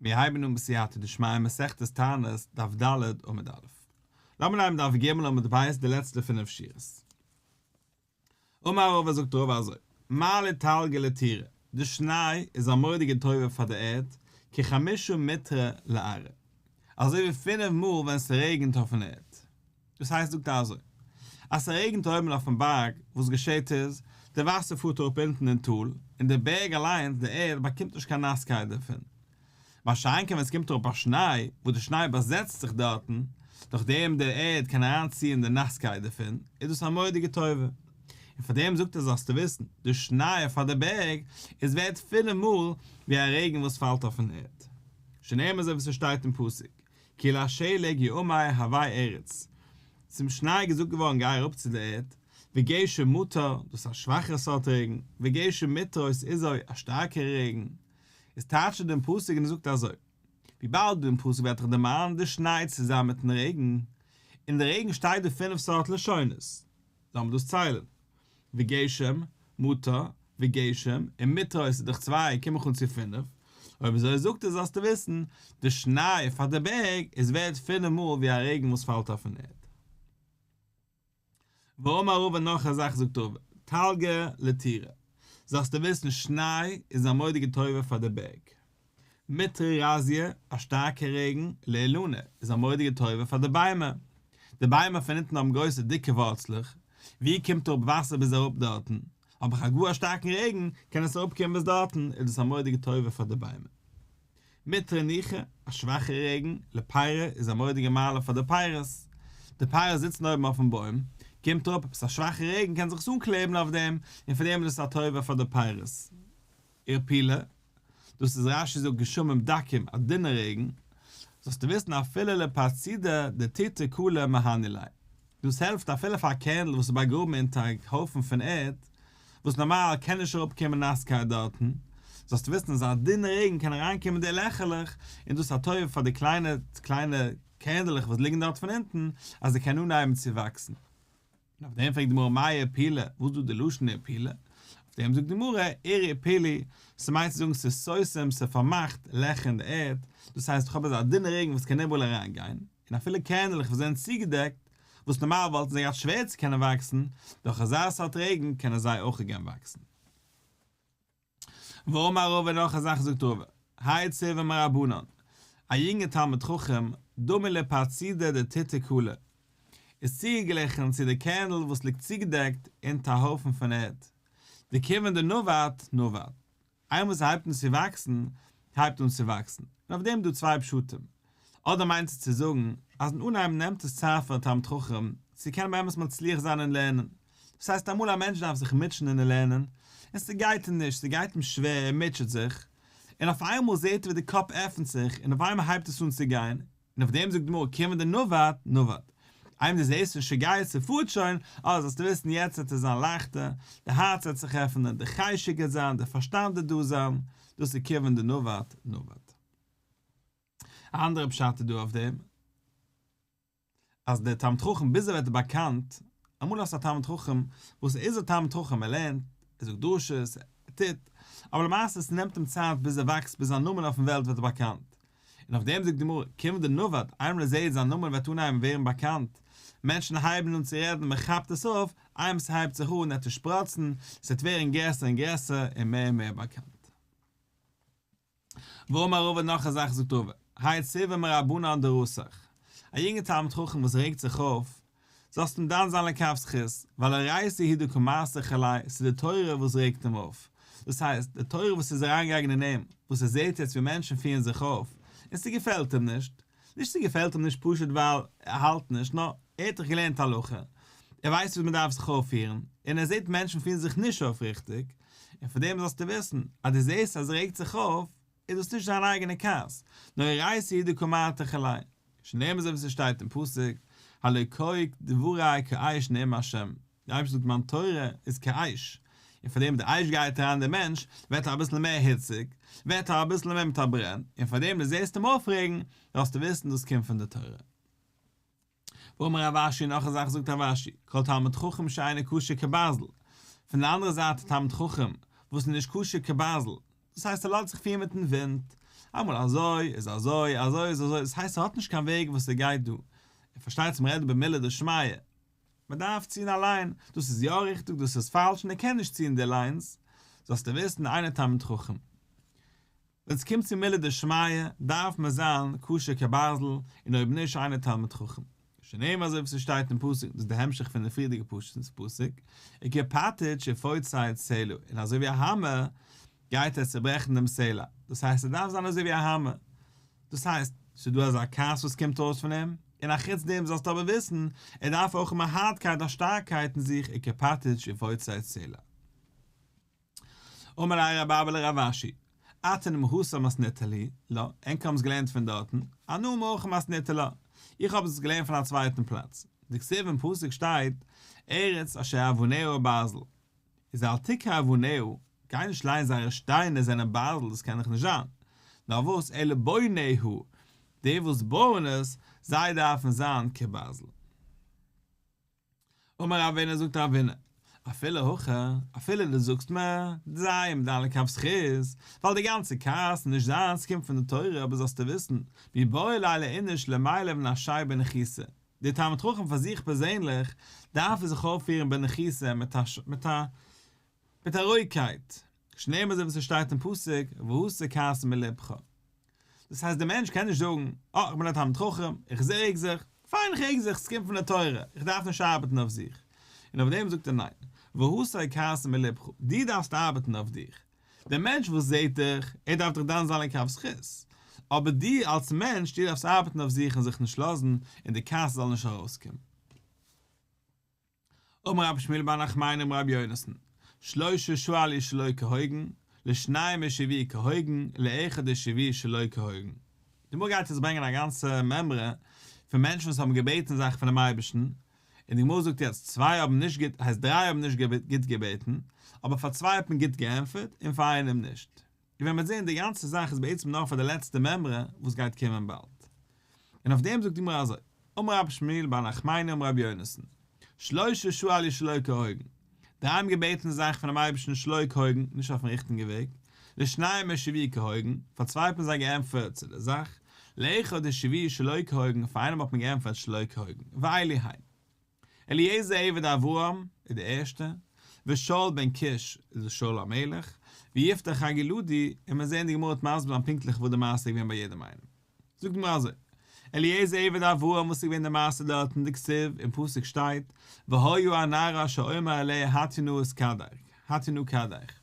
מיר הייבן אן בסייעתא דשמיא מסכת תענית דף ד' עמוד א'. לאמיר נעמען דף ג' עמוד ב' די לעצטע פינף שורות. אמר רבא זאגט רבא אזוי, מה לתלגי לטירה, די שניי איז א מורא'דיגע טובה פאר די ערד, כחמישה מיטרא לערה, אזוי ווי פינף מאל ווען ס'רעגנט אויפן ערד. דאס הייסט זאגט ער אזוי, אז ס'רעגנט אויבן אויפן בארג, וואס געשעהט איז, די וואסער פארט אראפ אונטן אין טאל, און די בערג אליינס, די ערד, באקומט נישט קיין נאסקייט דערפון. מה שאין כן ווען ס'קומט אראפ א שניי, וואס די שניי באזעצט זיך דארטן, דורך דעם די ערד קען אריין ציען די נאסקייט דערפון, איז דאס א מורא'דיגע טובה. און פאר דעם זאגט ער זאלסטו וויסן, די שניי פאר די בערג איז ווערד פילע מאל ווי א רעגן וואס פאלט אויפן ערד. שנאמר זיי וואס ס'שטייט אין פסוק, כי לשלג יאמר הווי ארץ, צום שניי איז געזאגט געווארן גיי אראפ צו דער ערד, וגשם מטר, דאס איז א שוואכער סארט רעגן, וגשם מטרות איז אוי א שטארקער רעגן, איז טייטשט ער דעם פסוק און ער זאגט אזוי, וויבאלד אין פסוק ווערט דאך דערמאנט די שניי צוזאמען מיטן רעגן, אין די רעגן שטייט דא פינף סארט לשונות. לאמיר דאס ציילן, וגשם, מטר, וגשם, און מטרא איז דאך צוויי, קום איך אן צו פינף, אויב אזוי זאגט ער זאלסטו וויסן, די שניי פאר די בערג איז ווערד פינף מאל ווי א רעגן וואס פאלט אויפן ערד. ואמר רבא נאך א זאך זאגט רבא, תלגא לתירא, זאלסטו וויסן שניי איז א מודי'גע טובה פאר די בערג. מעטעראראזיע, א שטארקע רעגן, לעלאנע, איז א מורא'דיגע טובה פאר די ביימער. די ביימער פון אונטן האבן גרויסע דיקע ווארצלעך, ווי קומט אראפ וואסער ביז אראפ דארטן, אויב איך האב גאר א שטארקן רעגן קען עס אראפקומען ביז דארטן, איז דאס א מורא'דיגע טובה פאר די ביימער. מעטערע ניחא, א שוואכע רעגן, לעפיירע, איז א מורא'דיגע מעלה פאר די פייערס. די פייערס זיצן אויבן אויפן בוים, קומט אראפ עפעס א שוואכע רעגן קען זיך עס אנקלעבן אויף דעם, און פון דעם איז דאס א טובה פאר די פייערס. איר פילע, דאס איז רשי זאגט גשמים דקים, א דינע רעגן, זאלסטו וויסן אפילו לפרצידע דתיתי כולה מהני ליה, דאס העלפט אפילו פאר א קענדל וואס איז באגראבן אונטער א הויפן פון ערד, וואס נארמאל קען נישט אראפקומען נאסקייט דארטן, זאלסטו וויסן אז א דינע רעגן קען אריינקומען די לעכערלעך, און דאס איז א טובה פאר די קליינע קליינע קענדלעך וואס ליגן דארט פון אונטן, אז זיי קענען אנהייבן צו וואקסן. און אויף דעם פרעגט די גמרא מאי ערפילא, וואס איז דא די לשון ערפילא? אויף דעם זאגט די גמרא, ער ערפילי, ס'מיינט צו זאגן ס'איז ששים, ס'פארמאכט, לעכער אין די ערד, דאס הייסט איך האב אזא דינע רעגן וואס קען איבעראל אריין גיין, און אפילו קערנעלעך וואס זענען צוגעדעקט, וואס נארמאל וואלטן זיי געהאט שווער צו קענען וואקסן, דורך אזא סארט רעגן קענען זיי אויך גערן וואקסן. ואמר רבא נאך א זאך זאגט רבא, היי צוה מרבנן, א יונגע תלמיד חכם, דומה לפרצידא דתיתא כלה, איז צוגעגליכן צו די קערנל וואס ליגט צוגעדעקט אונטער א הויפן פון ערד, די כיוון דנובעת נובעת, איינמאל ס'הייבט אן צו וואקסן, הייבט אן צו וואקסן, און אויף דעם דא צוויי פשטים, אדער מיינסטו צו זאגן אז אין אנהייב נעמט עס צייט פאר א תלמיד חכם צו קענען באמת מצליח זיין אין לערנען, דאס הייסט אמאל א מענטש דארף זיך מוטשען אין לערנען און ס'גייט אים נישט, ס'גייט אים שווער, ער מוטשעט זיך, און אויף איינמאל זעט ער ווי די קאפ עפנט זיך און אויף איינמאל הייבט עס אן צו גיין, און אויף דעם זאגט די גמרא כיוון דנובעת נובעת, איינמאל דו זעסט שוין ס'גייט, ס'פארט שוין, אה זאלסטו וויסן יעצט וועט עס זיין לייכטער, די הארץ וועט זיך עפענען, די חשק וועט זיין, די פארשטאנד וועט דא זיין, דאס איז כיוון דנובעת נובעת. א אנדערע פשט איז דא אויף דעם, אז דער תלמיד חכם ביז ער ווערט באקאנט, אמאל האסטו א תלמיד חכם, וואס ער איז א תלמיד חכם, ער לערנט, ער זאגט דרשות, ער טוט, אבער למעשה עס נעמט אים צייט ביז ער וואקסט, ביז זיין נאמען אויפן וועלט ווערט באקאנט. און אויף דעם זאגט די גמרא, כיוון דנובד, איינמאל ער זעט זיין נאמען וועט אנהייבן ווערן באקאנט, מענטשן הייבן אן צו רעדן, מען כאפט עס אויף, איינמאל עס הייבט זיך אן עס צו שפראצן, עס וועט ווערן גרעסער און גרעסער און מער און מער באקאנט. ואמר רבא נאך א זאך זאגט רבא, האי עצובה מרבנן דרסח, א יונגער תלמיד חכם וואס רעגט זיך אויף, זאלסט אים דן זיין לכף זכות, ווייל הרייסי הידו כמעשה כלאי, ס'איז די תורה וואס רעגט אים אויף, דאס הייסט, די תורה וואס איז אריינגעגאנגען אין אים, וואס ער זעט יעצט ווי מענטשן פירן זיך אויף, און ס'געפעלט אים נישט, נישט ס'געפעלט אים נישט פשוט ווייל ער האלט נישט, נאר ער האט דאך געלערנט הלכה, ער ווייסט וויאזוי מ'דארף זיך אויפפירן, און ער זעט מענטשן פירן זיך נישט אויף ריכטיג, און פון דעם זאלסטו וויסן, אז דו זעסט אז ער רעגט זיך אויף, איז דאס נישט זיין אייגענע כעס, נאר יראת העדה קומתך אליי, שנאמר אזוי ווי ס'שטייט אין פסוק, הלא קאי דברי קאי שנאמר השם, די אייבערשטענס דמן תורה איז כאש, און פאר דעם וואס די אש גייט אריין אין דעם מענטש, ווערט ער אביסל מער היציג, ווערט ער אביסל מער מיט א ברען, און פאר דעם דו זעסט אים אויפרעגן, זאלסטו וויסן דאס קומט פון די תורה. ואמר רב אשי, נאך א זאך זאגט רב אשי, כל תלמיד חכם שאינו כשר כבעזל, פון די אנדערע זייט א תלמיד חכם וואס איז נישט כשר כבעזל, דאס הייסט ער לאזט זיך פירן מיטן ווינט, אמאל אזוי איז אזוי, אזוי איז אזוי, דאס הייסט ער האט נישט קיין וועג וואס ער גייט דא, ער פארשטייט צום רעדן במילה דשמיא, מען דארף ציען א ליין, דאס איז יא ריכטיג דאס איז פאלש און ער קען נישט ציען די ליינס, זאלסטו וויסן איינער תלמיד חכם. ווען עס קומט צו מילה דשמיא דארף מען זיין קשור כברזל און אויב נישט איינער תלמיד חכם. שנאמר אזוי ווי ס'שטייט אין פסוק, דאס איז די המשך פון די פריערדיגע פשט אין די פסוק, עיקר פארטעטש ופוצץ צלו, און אזוי ווי א האמער גייט ער צעברעכן דעם סלע, דאס הייסט עס דארף זיין אזוי ווי א האמער, דאס הייסט, ס'איז דא אזא כעס וואס קומט אויס פון אים, און א חוץ דעם זאלסטו אבער וויסן, ער דארף אויך האבן א הארטקייט א שטארקייט אין זיך ער קעפאטיטש און פוצצט די סלע. אמר לה ר' אבא לרב אשי, אתה נמאסת מאס ניתן לי, לא, ענק האבן עס געלערנט פון דארטן, אנא מוך מאס ניתן לה, איך האב עס געלערנט פון א צווייטן פלאץ, דכתיב אין פסוק שטייט, ארץ אשר אבניה ברזל, איז אל תקרא אבניהו, גיי נישט לייען זייערע שטיינער זענען בייזל דאס קען דאך נישט זיין, נאר וואס אלה בוניהו, די וואס בויען עס, זיי דארפן זיין כבייזל. אמר אבינו זאגט א אבינו, אפילו הכא, אפילו דו זאגסט מ, דזיי עם דן לכף זכות, ווייל די גאנצע כעס איז נישט זיינס קומט פון די תורה אבער זאלסטו וויסן, מי באה לילה איניש למיילב נפשי בנחיסה, דער תלמיד חכם פאר זיך פערזענליך דארף ער זיך אויפפירן בנחישות מיט א מיט א רואיגקייט, שנאמר אזוי ווי ס'שטייט אין פסוק והסר כעס מלבך. דאס הייסט דער מענטש קען נישט זאגן, אה, איך בין א תלמיד חכם, איך רעג זיך, פיין איך רעג זיך, ס'קומט פון די תורה, איך דארף נישט ארבעטן אויף זיך. און אויף דעם זאגט ער ניין, והסר כעס מלבך, דו דארפסט ארבעטן אויף דיך, דער מענטש וואס זעט דיך, ער דארף דיך דן זיין לכף זכות, אבער דו אלס מענטש, דו דארפסט ארבעטן אויף זיך און זיך נישט לאזן, און די כעס זאל נישט ארויסקומען. אמר רבי שמואל בר נחמני אמר רבי יונתן, שלשה שואל איש שלא כהוגן, לשניים השיבי כהוגן, לאחד השיבי שלא כהוגן. די גמרא גייט יעצט ברענגען א גאנצע מימרא פון מענטשן וואס האבן געבעטן זאכן פונעם אייבערשטן, און די גמרא זאגט יעצט צוויי האבן נישט גוט הייסט דריי האבן נישט גוט געבעטן, אבער פאר צוויי האט מען גוט געענטפערט און פאר איינעם נישט. און ווען מ'וועט זען די גאנצע זאך איז בעצם נאר פאר די לעצטע מימרא וואס גייט קומען באלד. און אויף דעם זאגט די גמרא אזוי, אמר רבי שמואל בר נחמני אמר רבי יונתן, שלשה שואל יש שלא כהוגן, די איימגעבעטענע זאך פונעם אייבערשטן שלויק הויגן, נישט אויפן ריכטיגן וועג, לשניים משיבי כהויגן, פאר צוויי האט מען זיי געענטפערט צו די זאך, לאחד דשיבי שלא כהויגן, פאר איינעם האט מען געענטפערט שלא כהויגן, ואלי האי. אליעזר עבד אברהם איז די ערשטע, ושאול בן קיש איז דאס שאול המלך, ויפתח הגלעדי, און מיר זעען די גמרא האט מסביר זיין פונקטליך וואס די מעשה איז געווען ביי יעדעם איינעם. זאגט מיר אזוי, אליעזר עבד אברהם וואס איז געווען די מעשה דארט אין די כתב, אין פסוק שטייט, והיה הנער אשר אמר אליה התינוק את כדך, התינוק כדך.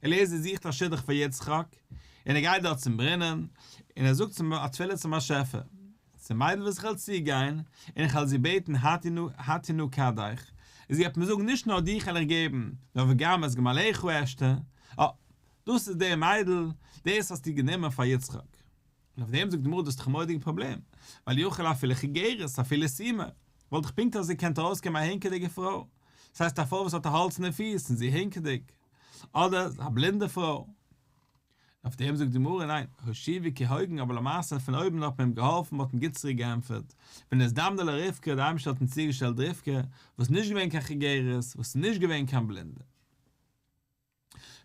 אליעזר זוכט א שידוך פאר יצחק, און ער גייט דארט צום ברינען, און ער זאגט צום א תפילה צום באשעפער, די מיידל וואס איך וועל צוגיין, און איך וועל זי בעטן התינוק, התינוק כדך, זי וועט מיר זאגן נישט נאר דיך וועל איך געבן, נאר וגם את גמליך אשתה, אה! דאס איז דער מיידל, דאס האסטו גענומען פאר יצחק. און אויף דעם זאגט די גמרא דאס איז דאך א מורא'דיגע פראבלעם, ווייל יוכלו אפילו כגרות, אפילו סימה, וואלט דאך פונקט אזוי געקענט ארויסקומען א הענקעדיגע פרוי, דאס הייסט א פרוי וואס האט א האלץ אין די פיס און זי איז הענקעדיג, אדער א בלינדע פרוי. און אויף דעם זאגט די גמרא, ניין, השיבי כהוגן, אבער למעשה פון אויבן האט מען אים געהאלפן, מ'האט אים גוט צוריק געענטפערט, ונזדמנה לה רבקה, דער אייבערשטער האט אים צוגעשטעלט רבקה, וואס איז נישט געווען קיין כגרות, וואס איז נישט געווען קיין בלינדע.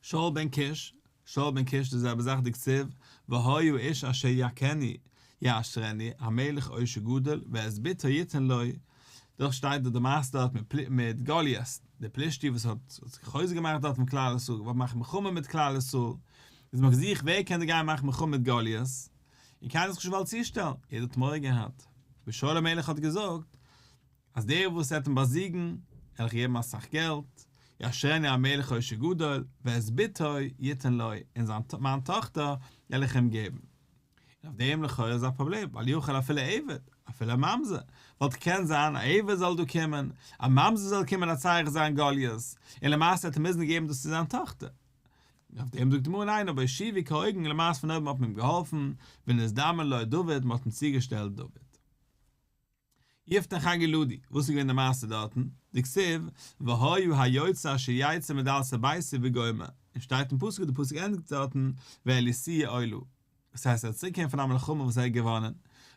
שאול בן קיש, שאול בן קיש די זעלבע זאך דקצב והיה איש אשר יַכני יעשרני המלך עושר גדול ואת בתו יתן לי, דאך שטייט דארט די מעשה דארט מיט מיט גוליית די פלישתי וואס האט האט זיך חוזק געמאכט דארט מיט כלל ישראל געוואלט מאכן מלחמה מיט כלל ישראל, איז מען געזוכט ווער קען דא גיין מאכן מלחמה מיט גוליית, און קיינער האט זיך נישט געוואלט צושטעלן, יעדער האט מורא געהאט, ביז שאול המלך האט געזאגט, אז דער וואס עט אים באזיגן, על איך געבן אסאך געלט, יאשרני המלך עושר גדול, ואת בתו יתן לי, און זיין מיין טאכטער וועל איך אים געבן. און אויף דעם לכאורה איז א פראבלעם, ווייל יוכל אפילו עבד, אפילו א ממזר, ווייל תקען זיין א עבד זאל דא קומען, א ממזר זאל קומען הצריך זיין גליות, און למעשה עט ער מוזן געבן דאס צו זיין טאכטער. און אויף דעם זאגט די גמרא ניין, אבער השיבי כהוגן, למעשה פון אויבן האט מען אים געהאלפן, ונזדמן לו דוד, מען האט אים צוגעשטעלט דוד. יפת חגי לודי, וואס איז געווען די מעשה דארטן? דכתיב, והיו היוצא אשר יצא מדלת ביתו וגומר, און שטייט אין פסוק, די פסוק ענדיגט דארטן, ואליסי עולה, דאס הייסט ער איז צוריק געקומען פון א מלחמה וואס ער האט געוואנען, און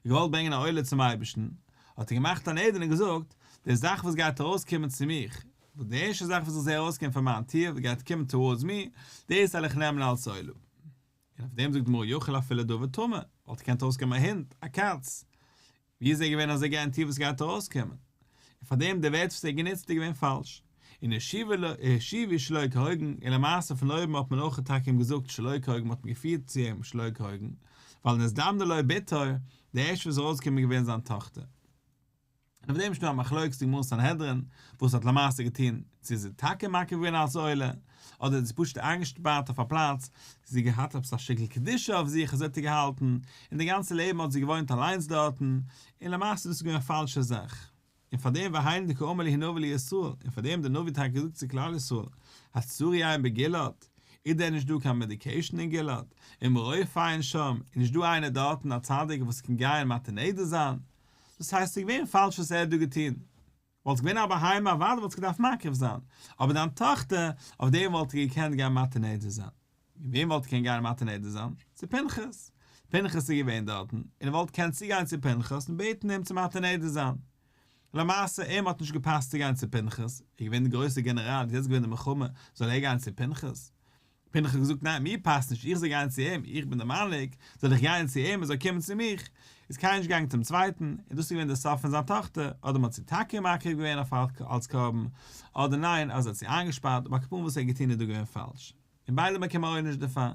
געוואלט ברענגען א עולה צום אייבערשטן, האט ער געמאכט אן עדן און געזאגט, די זאך וואס גייט ארויס קומען צו מיך, וואס די ערשטע זאך וואס איך זע ארויס קומען פון מיין טיר וואס גייט קומען towards me, דאס וועל איך נעמען אלס עולה. און אויף דעם זאגט די גמרא יאכל אפילו דוב ותמר, וואלט געקענט ארויס קומען א הונט, א קאץ, ווי איז ער געווען אזוי געארענטירט וואס גייט ארויסקומען? און פארדעם די ווערטער וואס ער האט גענוצט איז געווען פאלש. און השיבי שלא כהוגן, און למעשה פון אויבן האט מען אויך טאקע אים געזאגט שלא כהוגן מ'האט אים געפירט צו אים שלא כהוגן, ווייל נזדמנה לו בתו, די ערשטע וואס איז ארויסגעקומען איז געווען זיין טאכטער. און אויף דעם איז שוין דא א מחלוקת אין גמרא סנהדרין וואס האט למעשה געטון, צו איז זי טאקע מקריב געווען אלס עולה, אדער איז זי פשוט איינגעשפארט אויף א פלאץ, זי האט געהאט עפעס א שטיקל קדושה אויף זיך אזוי האט זי געהאלטן, און די גאנצע לעבן האט זי געוואוינט אליינס דארטן, און למעשה דאס איז געווען א פאלשע זאך. און פארדעם והיינו דקא אמר לי הנביא לישראל, און פארדעם האט דער נביא טאקע געזאגט צו כלל ישראל, הצורי עין בגלעד? איז דען נישט דא קיין מעדיקעישן אין גלעד? און מרופאין שם? איז נישט דא איינער דארטן א צדיק וואס קען גיין מתיר נדר זיין? דאס הייסט ס'איז געווען פאלש וואס ער האט דא געטון. וואלסט געווען א בהמה אוודאי וואלסטו געדארפט מקריב זיין, אבער דיין טאכטער, אויף דעם וואלט ער געקענט גיין מטה נדר זיין. און וועם וואלט ער געקענט גיין מטה נדר זיין? צו פנחס. פנחס איז געווען דארטן, און ער וואלט געקענט צוגיין צו פנחס און בעטן אים צו מטה נדר זיין. למעשה, אים האט נישט געפאסט צו גיין צו פנחס, ער איז געווען דער גרויסער גענעראל, איז יעצט געווען די מלחמה, זאל ער גיין צו פנחס? בין איך האב געזאגט ניין מיר פאסט נישט איך זאל גיין צו אים איך בין דער מנהיג זאל איך גיין צו אים ער זאל קומען צו מיך איז קיינער נישט געגאנגען צום צווייטן און דאס איז געווען דער סוף פון זיין טאכטער אדער מ'האט זי טאקע מקריב געווען אויף אלקער אלץ קרבן אדער ניין אז ער האט זי איינגעשפארט אבער כפ וואס ער האט געטון איז דא געווען פאלש און ביידע באקומען עונש דערפאר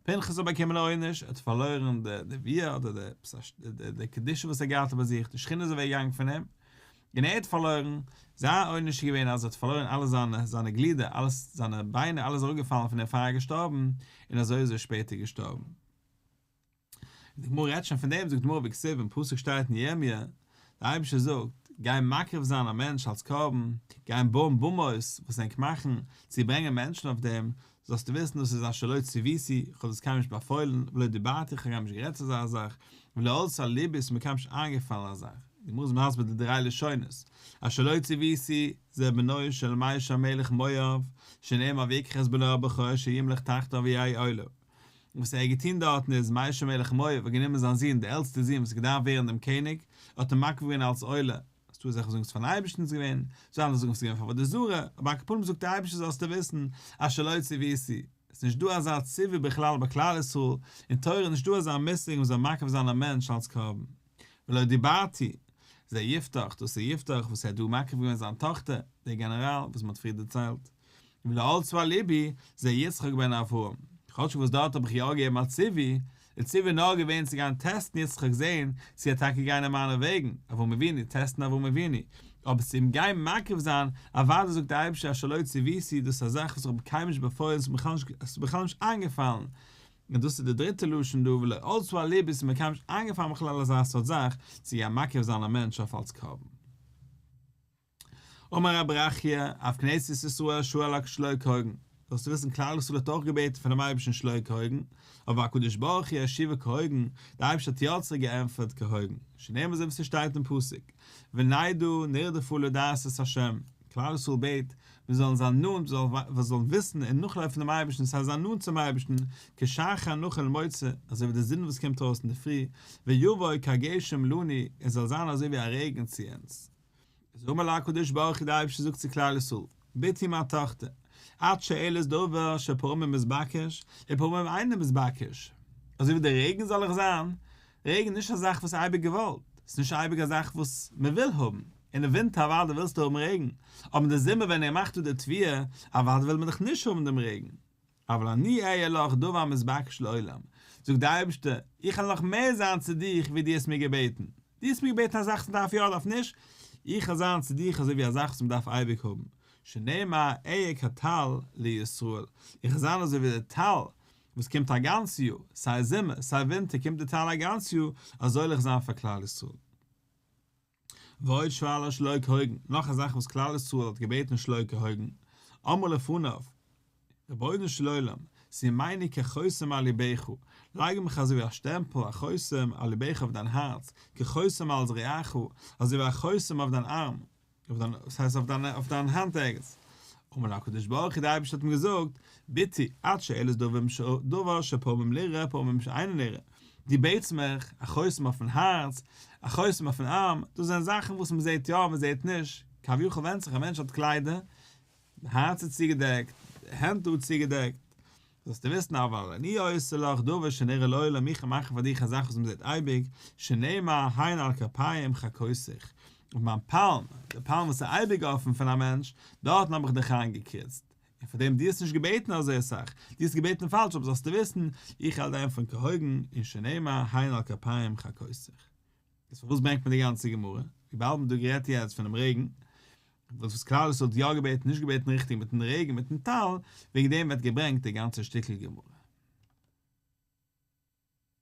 פנחס האט באקומען א עונש ער האט פארלוירן די נביאה אדער די קדושה וואס ער האט געהאט ביי זיך די שכינה איז אוועק געגאנגען פון אים און ער האט פארלוירן, זיין עונש איז געווען אז ער האט פארלוירן אלע זיינע זיינע גלידער, אלעס, זיינע ביינער, אלעס איז אראפגעפאלן פון אים פאר ער איז געשטארבן, און אזוי איז ער שפעטער געשטארבן. די גמרא רעדט שוין פון דעם, זאגט די גמרא בקצב, אין פסוק שטייט אין ירמיה, דער אייבערשטער זאגט, גיין מקריב זיין א מענטש אלס קרבן, גיין בויען באמות, וואס ענק מאכן, צו ברענגען מענטשן אויף דעם, זאלסטו וויסן דאס איז א שלא ציוויתי, כ'האב דאס קיינמאל נישט באפוילן, ולא דיברתי, כ'האב קיינמאל נישט גערעדט צו אזא זאך, ולא עלתה על לבי, ס'איז מיר קיינמאל נישט איינגעפאלן אזא זאך. די גמרא איז מסביר די דריי לשונות, א שלא ציוויתי, זה בנו של מאיש המלך מואב, שנאמר ויקח את בנו הבכור שימלוך תחתיו ויהי עולה. וואס ער האט געטון דארטן איז, מאיש המלך מואב האט גענומען זיין זון, דער עלטסטער זון וואס האט געדארפט ווערן דעם קעניג, האט אים מקריב געווען אלס עולה, האסט דא זאכן זאגן ס'איז פארן אייבערשטן ס'איז געווען, זאל אנדערע זאגן ס'איז געווען פאר עבודה זרה, אבער על כל פנים זאגט דער אייבערשטער זאלסטו וויסן אז שלא ציוויתי, ס'איז נישט דא אזא ציווי בכלל ביי כלל ישראל, אין תורה איז נישט דא אזא מושג מ'זאל מקריב זיין א מענטש אלץ קרבן. ולא דיברתי, זה יפתח, דאס איז יפתח וואס ער האט דא מקריב געווען זיין טאכטער, דער גענעראל וואס מ'האט פריער דערציילט. און לא אלץ ועל לבי, זעה יצחק בן אברהם. כאטש וואס דארט האב איך יא געגעבן א ציווי, די ציווי איז נאר געווען צו גיין טעסטן יצחק זען צו ער טאקע גיין אין מיינע וועגן, אברהם אבינו, טעסטן אברהם אבינו. אבער צו אים גיין מקרב זיין, אוודאי זאגט דער אייבערשטער אשר לא ציוויתי, דאס איז א זאך וואס איך האב קיינמאל נישט באפוילן און עס איז בכלל נישט איינגעפאלן, און דאס איז די דריטע לשון דא ולא אלץ ועל לבי, עס איז מיר קיינמאל נישט איינגעפאלן בכלל אזא סארט זאך צו גיין מקרב זיין א מענטש אויף אלץ קרבן. אמר רבי ברכיה, אויף כנסת ישראל שואל הק' שלא כהוגן, זאלסטו וויסן כלל ישראל האט אויך געבעטן פונעם אייבערשטן שלא כהוגן, אבער הקדוש ברוך הוא השיבו כהוגן, דער אייבערשטער האט יא צוריק געענטפערט כהוגן, שנאמר אזוי ווי ס'שטייט אין פסוק, ונדעו נרדפו לדעת את השם, כלל ישראל בעט מיר זאלן זיין נאנט, מיר זאלן וויסן און נאכלויפן דעם אייבערשטן, ס'הייסט זיין נאנט צום אייבערשטן, כשחר נאכל למוצא, אזוי ווי די זון וואס קומט ארויס אינדערפרי, ויבוא כגשם לנו, און זאל זיין אזוי ווי א רעגן צו אונז. איז אמר לה הקדוש ברוך הוא די אייבערשטער זאגט צו כלל ישראל, בתי מיין טאכטער, את שואלת דבר שפעמים מתבקש און פעמים אינו מתבקש, אזוי ווי די רעגן זאל איך זיין, רעגן איז נישט א זאך וואס איז אייביג געוואלט, עס איז נישט אייביג א זאך וואס מען וויל האבן, אין די ווינטער אוודאי ווילסטו האבן רעגן, אבער אין די זומער ווען ער מאכט אפ די תביעה, אוודאי וויל מען דאך נישט האבן דעם רעגן. אבל אני אהיה לך דבר המתבקש לעולם, זאגט דער אייבערשטער, איך וועל נאך מער זיין צו דיך ווי דו האסט מיר געבעטן, דו האסט מיר געבעטן א זאך וואס מען דארף יא אדארף נישט, איך וועל זיין צו דיך אזוי ווי א זאך וואס מען דארף אייביג האבן, שנאמר אהיה כטל לישראל, איך וועל זיין אזוי ווי די טל וואס קומט א גאנץ יאר, סיי זומער סיי ווינטער קומט די טל א גאנץ יאר, אזוי וועל איך זיין פאר כלל ישראל. ועוד שאלה שלא כהוגן, נאך א זאך וואס כלל ישראל האט געבעטן שלא כהוגן, אמר לפניו, רבונו של עולם, שים עיני כחותם על לבך, לייג מיך אזוי ווי א שטעמפל, א חותם, על לבך אויף דיין הארץ, כחותם על זרועך, אזוי ווי א חותם אויף דיין ארם, אויף דיין, וואס הייסט אויף דיין, אויף דיין האנט ערגעץ. אמר לו הקדוש ברוך הוא, דער אייבערשטער האט אים געזאגט, ביתי, עד שאלה איז דבר שפעמים נראה פעמים שאינו נראה, דו בעטסט מיך, א חותם אויפן הארץ, א חותם אויפן ארם, דאס זענען זאכן וואס מען זעט יא, מען זעט נישט, כביכול ווענדט זיך, א מענטש האט קליידער, די הארץ איז צוגעדעקט, די הענט דא צוגעדעקט, זאלסטו וויסן, אבל אני עושה לך דבר שנראה לעולם, איך מאכן פאר דיך א זאך וואס מען זעט אייביג, שנאמר הנה על כפיים חקותיך, אויף מיין פאלם, די פאלם וואס איז אייביג אפן פון א מענטש, דארטן האב איך דיך איינגעקריצט, און פאר דעם דו האסט נישט געבעטן אזוי אסאך, דו האסט געבעטן פאלש, אבער זאלסטו וויסן, איך האלט דיין פון כהוגן, און שנאמר הן על כפיים חקותיך. איז פארוואס ברענגט מען די גאנצע גמרא? וויבאלד מען האט דא גערעדט יעצט פונעם רעגן, וואס וואס כלל ישראל האט יא געבעטן, נישט געבעטן ריכטיג מיטן רעגן מיטן טל, וועגן דעם ווערט געברענגט די גאנצע שטיקל גמרא.